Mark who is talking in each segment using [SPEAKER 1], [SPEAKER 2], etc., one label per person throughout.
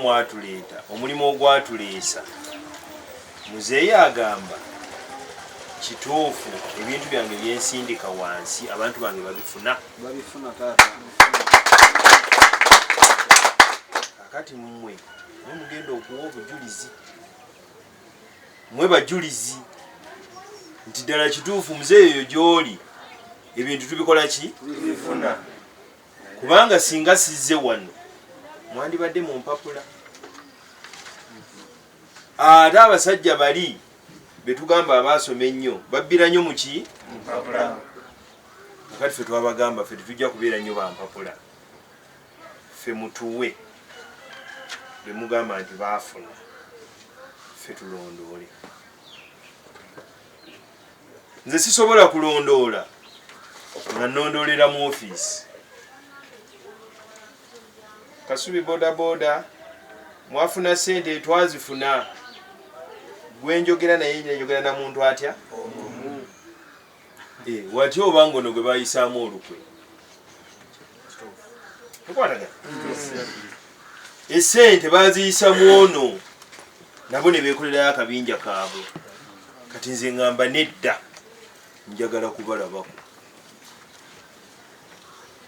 [SPEAKER 1] mwatuleeta omulimu ogwatuleesa muzeeyi agamba kituufu ebintu byange byensindika wansi abantu bange babifuna
[SPEAKER 2] kakati
[SPEAKER 1] mmwe mwe mugenda okuwa obujulizi mwe bajulizi nti ddala kituufu muzeeyi oyo gy'oli ebintu tubikola ki
[SPEAKER 2] kubanga
[SPEAKER 1] singa sizze wano mwandibadde mu mpapula ate abasajja bali betugamba abaasoma ennyo babbira nnyo muki kati fe twabagamba fe tetujja kubeera nnyo bampapula fe mutuwe bemugamba nti baafuna fe tulondoole nze sisobola kulondoola nga nondoolera mu ofiisi kasubi bodaboda mwafuna sente twazifuna gwenjogera naye njogera na muntu atya eh, watya oba ngono gwe bayisaamu olukwe esente baziyisa mwono nabo nebekolerayo akabinja kaabwe kati nze ngamba nedda njagala kubalabako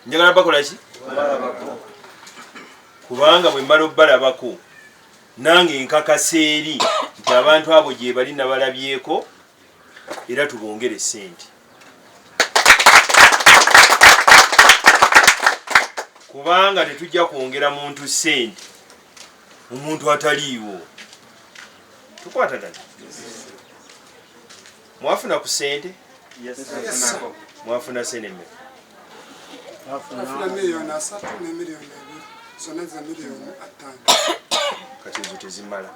[SPEAKER 1] njagala bakolaki kubanga bwemala obalabako nange nkakasa eri nti abantu abo gyebali nabalabyeko era tubongere sente kubanga tetujja kwongera muntu sente omuntu ataliiwo tukwatagana mwafuna ku sente mwafuna sente me
[SPEAKER 3] kati ezo
[SPEAKER 1] tezimala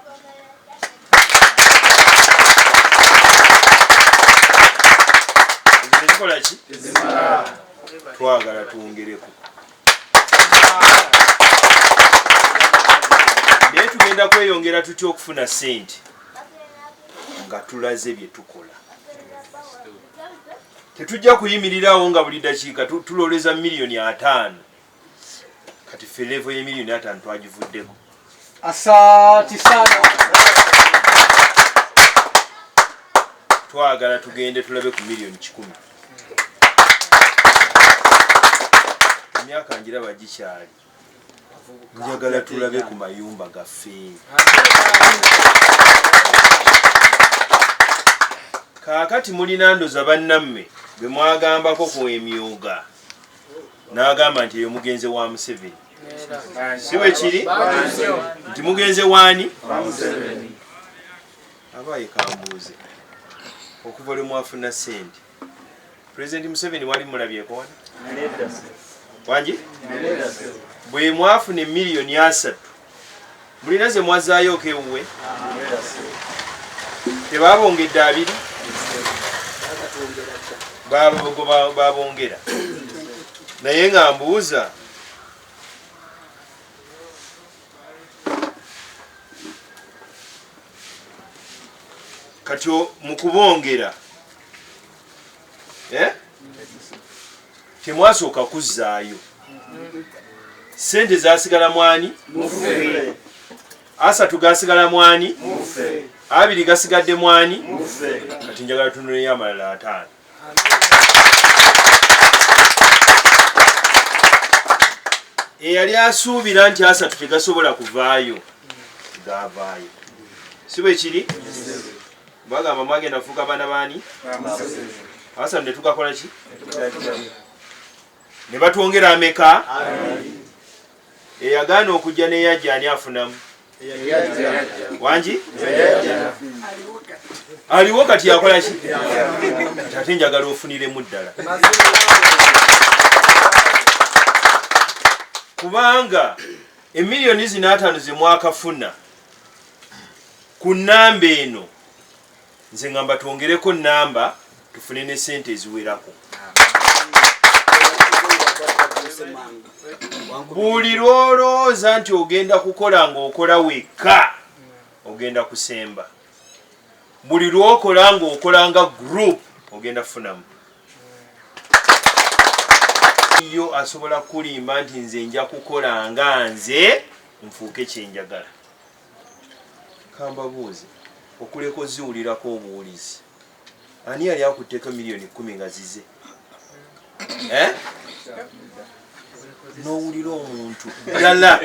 [SPEAKER 1] twagala twongereko naye tugenda kweyongera tutya okufuna sente nga tulaze byetukola tetujja kuyimirirawo nga buli dakiika tuloleza miliyoni ataano kati ffe levo yemirimu natano twagivuddeko asanti
[SPEAKER 2] sana
[SPEAKER 1] twagala tugende tulabe ku miliyoni kikumi emyaka njiraba gikyali njagala tulabe ku mayumba gaffe kaakati mulina ndoza bannamme bemwagambako ku emyuga n'agamba nti eyo mugenze wa museveni si bwe kiri nti mugenze waani abaaye kambuuze okuva lwe mwafuna sente pulezidenti museveni wali mulabyeko wani wangi bwe mwafuna emiliyoni asatu mulina zemwazaayooko ewuwe tebabongedde abiri babongera naye nga mbuuza kati mukubongera eh? temwasooka kuzzaayo sente zasigala mwani asatu gasigala mwani abiri gasigadde mwani kati njagala tunuleyo amalala ataano eyali asuubira nti asatu tegasobola kuvaayo gavaayo si bwe kiri Bagamba mwagenda kufuuka baana baani? Abasatu ne tugakola ki? Ne batwongera ameka? Eyagaana okujja n'eyajja ani afunamu? Wangi? Aliwo kati yakola ki? Ate njagala ofuniremu ddala. Kubanga emiliyoni zinaatano ze mwakafuna. Ku nnamba eno nze ngamba twongereko nnamba tufune ne ssente eziwerako. Buli lw'olowooza nti ogenda kukola ng'okola wekka ogenda kusemba. Buli lw'okola ng'okola nga group ogenda kufunamu. Yo asobola kukulimba nti nze nja kukola nga nze nfuuke kye njagala. Kambabuuze, okuleka oziwulirako obuwulizi, ani yali akutteko million kumi nga zize? Eh? Nowulira omuntu ddala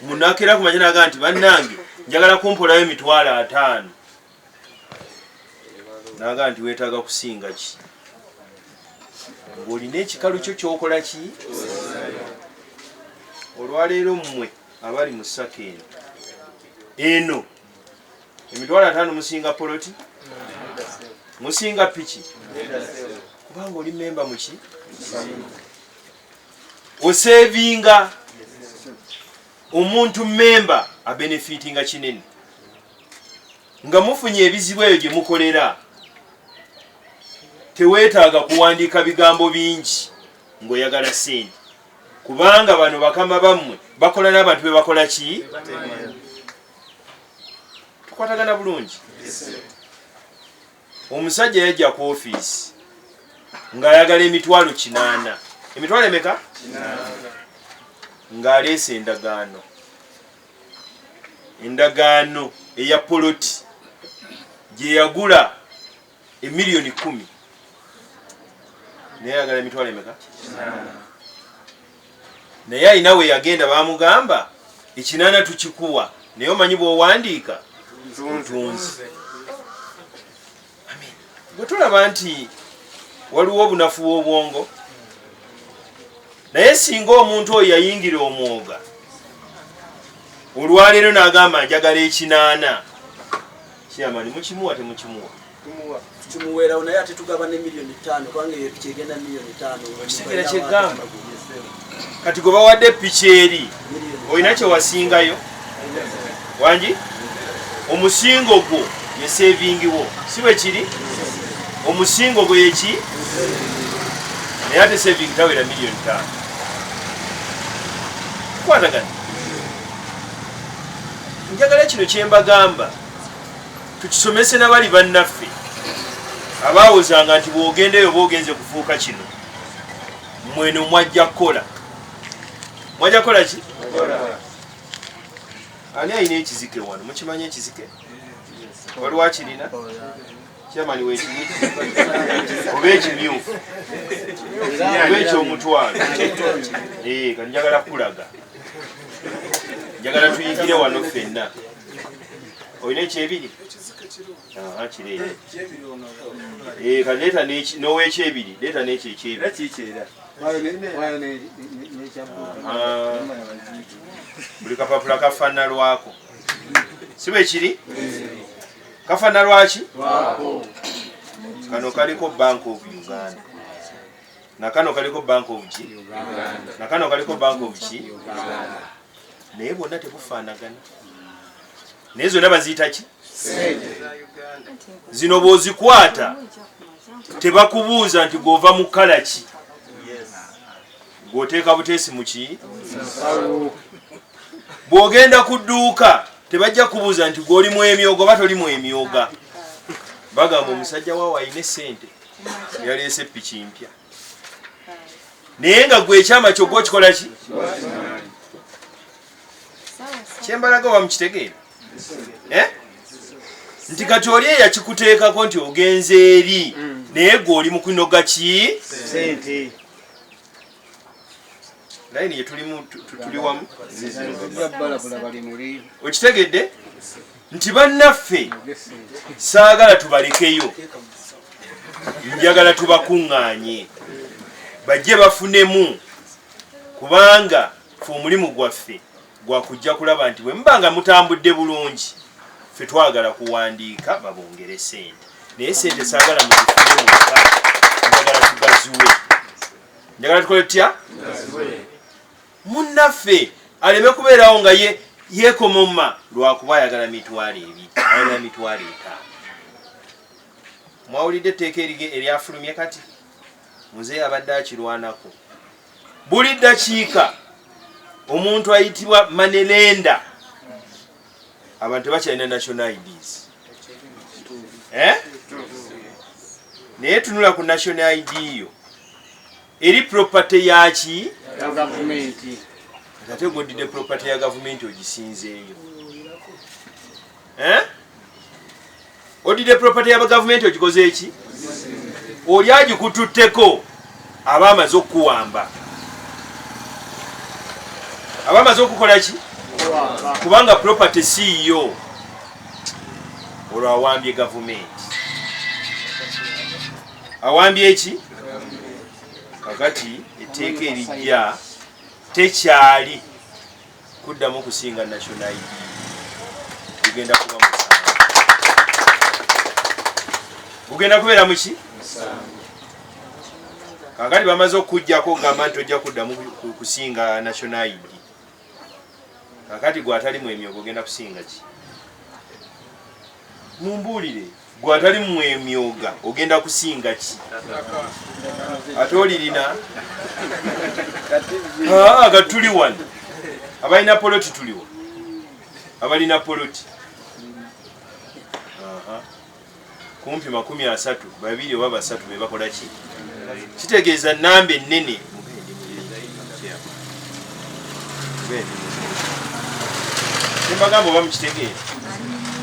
[SPEAKER 1] munakera kumanya naga nti bannange njagala kumpolayo emitwalo ataano. naga nti wetaaga kusinga ki ng'olina ekikalu kyo kyokola ki olwaleero mmwe abali mu saka eno eno emitwalo ataano musinga poloti musinga piki kubanga oli memba muki osevinga omuntu memba abenefitinga kinene nga mufunye ebizibu eyo gye mukolera teweetaaga kuwandiika bigambo bingi ng'oyagala sente kubanga bano bakama bammwe bakola n'abantu be bakola ki tukwatagana bulungi omusajja yajja ku ofiisi ng'ayagala emitwalo kinaana emitwalo emeka ng'aleese endagaano endagaano eya poloti gyeyagula emiliyoni kumi naye ayagala emitwalo emeka naye alina we yagenda bamugamba ekinaana tukikuwa naye omanyi bwowandiika ntunzi bwe tulaba nti waliwo obunafu bw'obwongo naye singa omuntu oyo yayingira omwoga olwaleero n'agamba njagala ekinaana kyamani mukimuwa temukimuwa kimuweerawo
[SPEAKER 2] naye ate tugaba ne miliyoni ttaano kubanga eyo piki egenda miliyoni ttaano ekiseera kyegamba
[SPEAKER 1] kati gwe bawadde piki eri olina kyewasingayo wangi omusingo gwo ye sevingiwo si bwe kiri omusingo gwe yeki naye ate sevingi tawera miliyoni tano kwatagana njagala kino kyembagamba tukisomese nabali bannaffe abaawozanga nti bwogendeyo oba ogenze kufuuka kino mweno mwajja kukola mwajja kukola ki ani alina ekizike wano mukimanyi ekizike waliwo akirina kyamani wekimu oba ekimyufu oba ekyomutwalo eh, kati njagala kulaga njagala tuyigire wano fenna olina ekyebiri nowekyebiri leeta nekyo ekyebiribuli kapapula kafana lwako si bwekiri kafana lwaki kano kaliko bank of uganda nakano kaliko bank of ki nakano kaliko bank of ki naye bwonna tebufaanagana naye zonna baziyita ki sente zino bwozikwata tebakubuuza nti gwova mu kala ki gwoteeka buteesi muki bwogenda ku dduuka tebajja kubuuza nti gwoli mu emyoga oba toli mu emyoga bagamba omusajja waawo alina esente yaleese piki mpya naye nga gwe ekyama kyogwa okikola ki kyembalaga wamukitegeera eh? nti kati oli eyakikuteekako nti ogenze eri mm. naye gwe oli mukunoga ki naye niye tuli wamu okitegedde nti bannaffe saagala tubalekeyo njagala tubakuŋŋaanye bajje bafunemu kubanga fe omulimu gwaffe gwa kujja kulaba nti bwe muba nga mutambudde bulungi ffe twagala kuwandiika babongere sente naye sente saagala muzifune muka njagala tugaziwe njagala tukole tutya munnaffe aleme kubeerawo nga ye yekomoma lwakuba ayagala mitwalo ebi ayagala mitwalo etaano mwawulidde etteeka eryafulumye kati muzeeyi abadde akirwanako buli ddakiika omuntu ayitibwa manelenda abantu tebakyalina national ids eh? naye tunula ku national id yo eri property yaki ate godidde property ya gavumenti ogisinzeeyo eh? odidde property ya gavumenti ogikoze eki oli agikututteko aba amaze okukuwamba aba amaze okukola ki kubanga property siiyo olwo awambye gavumenti awambye eki kakati etteeka erijja tekyali kuddamu kusinga national id gugenda kuba musango gugenda kubeera muki kakati bamaze okukujjako okugamba nti ojja kuddamu kusinga national id kakati gwatalimu emyogo ogenda kusinga ki mumbuulire gwe atali mwemyoga ogenda kusinga ki ate olirina aga tuli wano abalina poloti tuliwo abalina poloti kumpi makumi asatu babiri oba basatu bebakola ki kitegeeza namba ennene embagamba oba mukitegeera